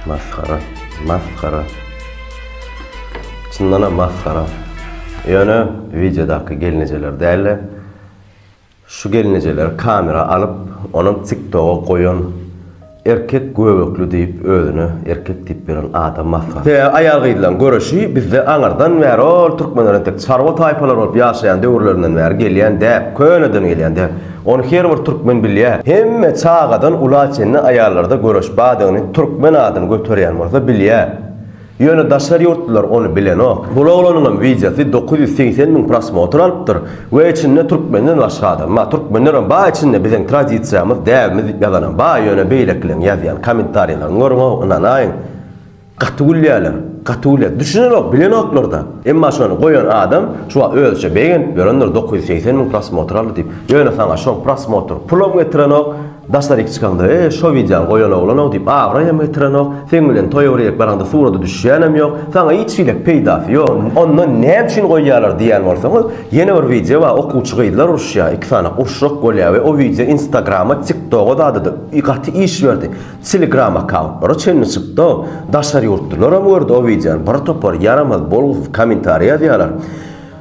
Masgara, masgara. Çyndanam masgara. Ýöne wideodaky gelnejeler däl-de, şu gelnejeleri kamera alyp, onam TikToga goýan Erkek göbekli diýip özüne erkek diýip beren adam masgara. He aýal gyzlaň göreşi bizde aňyrdan bäri ol türkmenler entek çarwa taýpalar bolup ýaşaýan döwürlerinden bäri gelýän däp, köneden gelýän däp. Ony her bir türkmen bilýär. Hemme çagadan ula çenli aýallarda göreş badygyny türkmen adyny göterýän bolsa bilýär. Ýöne daşary ýurtlular ony bilenok. Bul oglanyňam wideosy dokuz ýüz segsen müň prosmotr alypdyr we içinde türkmenden başga adam bar. Türkmenlerem bar içinde biziň tradisiýamyz, däbimiz diýip ýazanam bar. Ýöne beýlekileň ýazýan kommentariýalaryny görüňow ynanaýyň gaty gülýäler. Gaty gülýä. Düşünenok, bilenoklarda. Emma şony goýan adam şu wagt özüçe begenip ýörendir dokuz ýüz segsen müň prosmotr aldy diýip. Ýöne saňa şoň prosmotr pulam getirenok. Daşlar iki çykanda e şo widýany goýan oglanok diýip abraý hem getirenok, seň bilen toýa birgelik baraňda surata düşýänem ýok, saňa hiç hili peýdasy ýok, onda näme üçin goýýalar diýýän bolsaňyz, ýene bir widýo bar okuwçy gyzlar uruşýar, iki sany urşrak bolýar we o widýo instagrama, tiktoga zada-da gaty iş berdi, telegram akkauntlara çenli çykdy, daşary ýurtlylaram gördi o widýony, bir topar ýaramaz, bolgusyz kommentariý ýazýalar,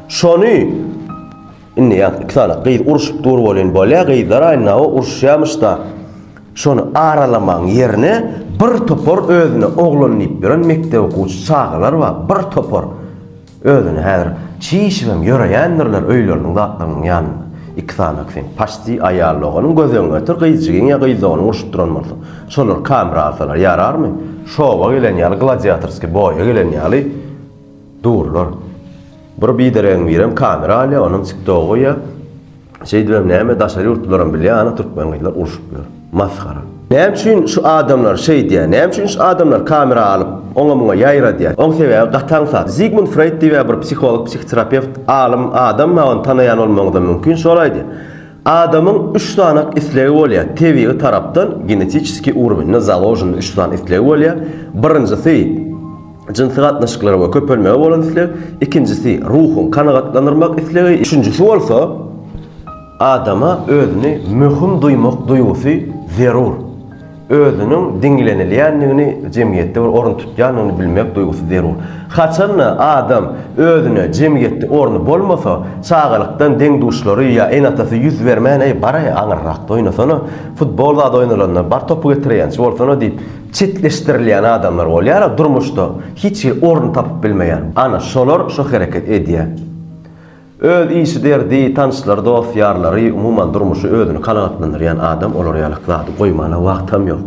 şony. Indi ýaz iki sany gyz urşup dur welin bolýa gyzlar aýnawa urşýamyşda şony aralamaň ýerine bir topar özüne oglan diýip ýören mekdep okuwçy çagalar bar bir topar özüni häzir çişibem ýöreýändirler öýleriniň zatlarynyň ýanynda iki sany sen paşti aýal doganyň göz öňüne getir gyz jigin ýa gyz doganyň urşup duran bolsa şolar kamera alsalar ýararmy şowa gelen ýaly gladiatorski boýa gelen ýaly durlar. Bir bideregiň birem kamera alýa onam tiktoga goýýa şeýdibem näme daşary ýurtlylaram bilýä ana türkmen gyzlar urşup ýör masgara. Näme üçin şu adamlar şeýdýä näme üçin şu adamlar kamera alyp oňa muňa ýaýradýa oň sebäbi gaty aňsat Zigmund Freýd diýibä bir psiholog psihoterapewt alym adam bar ony tanaýan bolmagyňyzam mümkin şol aýdýa Adamyň üç sanak islegi bolýar, tebigy tarapdan, genetiçeskiý urwende založen üç sany islegi bolýar. Birinjisi, jynsy gatnaşyklara we köpelmege bolan isleg, ikinjisi, ruhuň kanagatlandyrmak islegi, üçünjisi bolsa, adama özüni möhüm duýmak duýgusy zerur. özüniň diňlenilýändigini, jemgyýetde bir orun tutýandygyny bilmek duýgusy zerur. Haçan-da adam özüne jemgyýetde orny bolmasa, çagalykdan deň-duşlary ýa ene-atasy ýüz bermän, Eý, bar-aý, aňyrrakda oýnasana, futbol zady oýnalanda bar topy getirýänçi bolsana diýip, çetleşdirilýän adamlar bolýar-a durmuşda, hiç hili orun tapyp bilmeýän. Ana, şolar şu hereket edýär. Öz işi derdi, tanyşlary, dost-ýarlary, umuman durmuşy özüni kanagatlandyrýan adam olar ýaly zady goýmana wagtam ýok.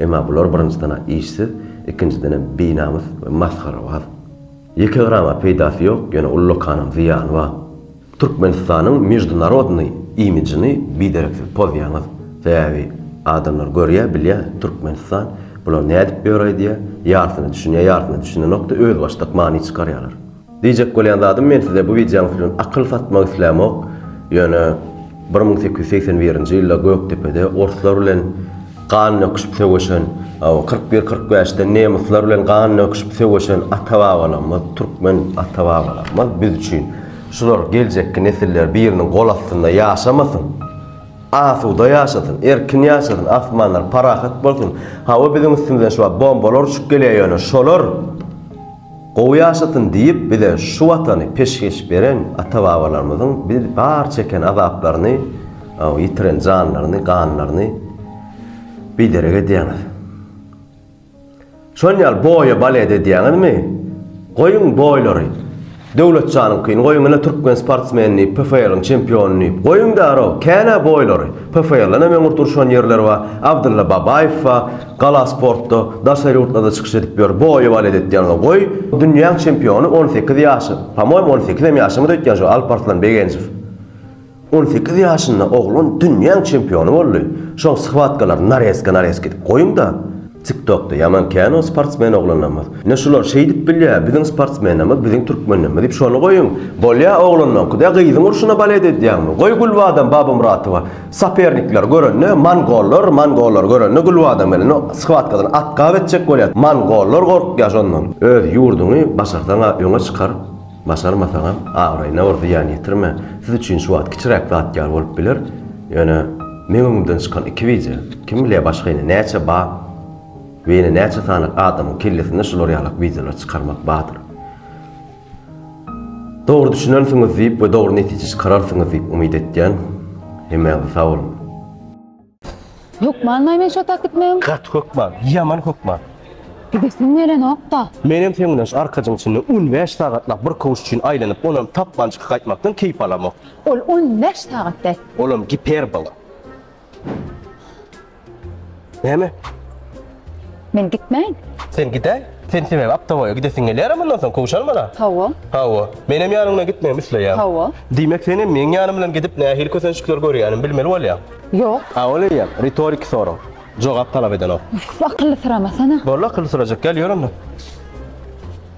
Emma bular birinjiden-ä işsiz, ikinjidenem binamys we masgarabaz. Ýeke grama peýdasy ýok, ýöne ullakanam zyýany bar. Türkmenistanyň mejdunarodnyý imijini bidereksiz pozýaňyz. Sebäbi adamlar görýä, bilýä, Türkmenistan bular nädip ýöräýdi-ä, ýarsyna düşünýä, ýarsyna düşünenok-da özbaşdak many çykarýalar. Diýjek bolýan zadym men size bu wideoňyz bilen akyl satmak islämok, ýöne bir müň sekiz ýüz segsen birinji ýylda Gökdepede orslar bilen gan döküşip söweşen, kyrk bir kyrk bäşde nemyslar bilen gan döküşip söweşen ata-babalarymyz, türkmen ata-babalarymyz biz üçin şular geljekki nesiller biriniň gol astynda ýaşamasyn, asuda ýaşasyn, erkin ýaşasyn, asmanlar parahat bolsun, hawa biziň üstümizden şu wagt bombalar uçup gelýär ýöne şolar Gowy ýaşasyn diýip bize şu watany peşgeş beren ata babalarymyzyň biz bar çeken azaplaryny ýitiren janlaryny ganlaryny biderek edýäňiz. Şon ýaly boýa balet edýäňizmi? Goýuň boýlary. Döwletjanyňkyny goýuň ine türkmen sportsmeni PFL-iň çempiony diýip goýuň därow känä boýlary. PFL-den hem öňürti urşan ýerleri bar. Abdylla Babaýew bar. Gala sportda daşary ýurtlarda çykyş edip ýör, boýy balet etýänini goý, dünýäň çempiony on sekiz ýaşy, pomoýmy on sekizem ýaşamady öýtýän şu Alparslan Begenjow. On sekiz ýaşynda oglan dünýäň çempiony boldy. Şoň shywatkalaryny nareska nareska edip goýuňda. Tik tokda ýaman kän o sportsmen oglanlarymyz. Ine şular şeýdip bilýä, biziň sportsmenlerimiz, biziň türkmenlerimiz diýip şony goýuň. Bolýa oglanlaňky, de gyzyň urşuna balet edýäňmi, goý Gülbadam Babamuratowa. Sopernikler görende mongollar, mongollar görende gülbadam gelende shwatkadan atgap etjek bolýar. Mongollar gorkýar şondan. Öz ýurduňy başarsaň-a öňe çykar, başarmasaňam abraýyna bir zyýan ýetirme. Siz üçin şu wagt kiçiräk zat ýaly bolup biler, ýöne meň öňümden çykan iki bije, kim bilýär başga ýene näçe bar we ýene näçe sany adamyň kellesinde şular ýalak bijeleri çykarmak bardyr. Dogry düşünersiňiz diýip we dogry netije çykararsyňyz diýip umyt etýän. Hemäňize sag boluň. Hökmanmy men şo tak gitmegim? Gaty hökman, ýaman hökman. Gidesim gelenokda. Menem seň bilen şu arkajyň içinde on bäş sagatlap bir kowuş üçin aýlanyp, onam tapman çykyp gaýtmakdan keýp alamok. Ol on bäş sagat däl. Olam giperbola. Näme? Men gitmäýin. Sen gidäý. Sen sebäbi Aptawaýa gidesiň gelýär mundan soň kowşan bala. Hawa. Hawa. Menem ýanyňdan gitmegimi isleýän. Hawa. Diýmek sen hem meň ýanym bilen gidip nähili kösençlikler görýänim bilmeli bolýaň. Ýok. A ol eýýäm ritoriki sorag. Jogap talap edenok. Akylly syramasana. Boldy akylly syrajak gel ýör onda.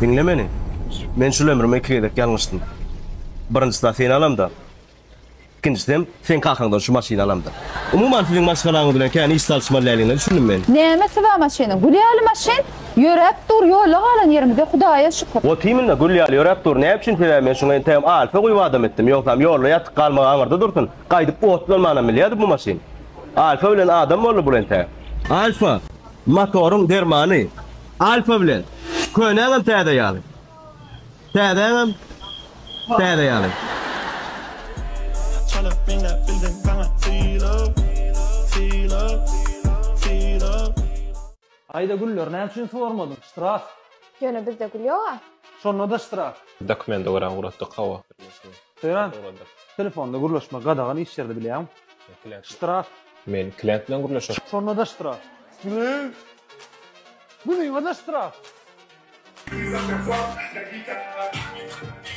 Diňle meni. Men şul ömrüme iki gezek ýalňyşdym. Birinjisi-de seni alamda. Ikinjisem, seň kakaňdan şu maşyny alamda. Umuman, siziň maşgalaňyz bilen kän iş salyşmalyläligiňe düşündim men. Näme siz-ä maşynyň? Gül ýaly maşyn! Ýöräp dur, ýolda galan ýerimize Hudaýa şükür. Otymynda gül ýaly ýöräp dur. Näme üçin? Sebäbi men şuňa entegem alfa guýup adam etdim. Ýogsam, ýolda ýatyp galmagy aňyrda dursun. Gaýdyp otlanmanam bilýärdi bu maşyn. Alfa bilen adam boldy bul entäk. Alfa! Motoryň dermany Alfa bilen könäňem täze ýaly. Täzäňem täze ýaly. Çalyp meňläp bildiň saňa sylag, sylag, sylag. Aýda güller näme üçin suwarmadyň? Ştraf. Ýöne bizde gül ýoga. Şonda-da ştraf. Dokumenta görä ugratdyk hawa. Söýrän, telefonda gürleşmek gadagan iş ýerde bilýäňmi? Ştraf. Men klient bilen gürleşerin. Şonda-da ştraf. Gülüň. Gülüňe-de ştraf.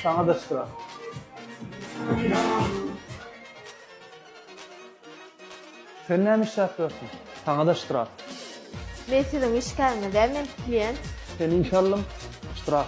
Saňa-da ştraf. Sen näme işläp ýörsüň? Saňa-da ştraf. Men siziň işgäriňiz däl, men klient. Seni işe aldym. Ştraf.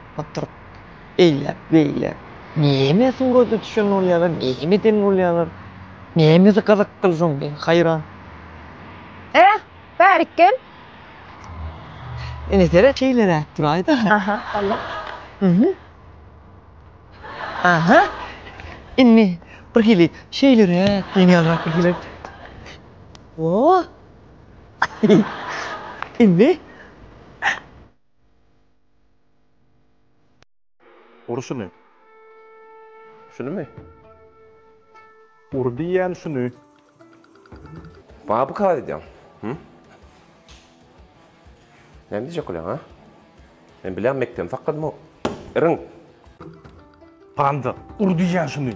oturyp eýläk beýläk näme surata düşen bolýalar näme eden bolýalar nämesi gyzykdyr şoň men haýran. Äh bärik gel. Ine seret şeýleräk duraýda. Aha Allah. Uhuh. Aha. Indi bir hili şeýleräk ýenýanrak bir hili. Woo. Indi. Ur şuny. Şunymy? Ur diýýän şuny. Baby kar edýäň. Hü? Näme diýjek bolýaň, ha? Men bilýän mekdebi sakladym o. Irin. Panda, ur diýýän şuny.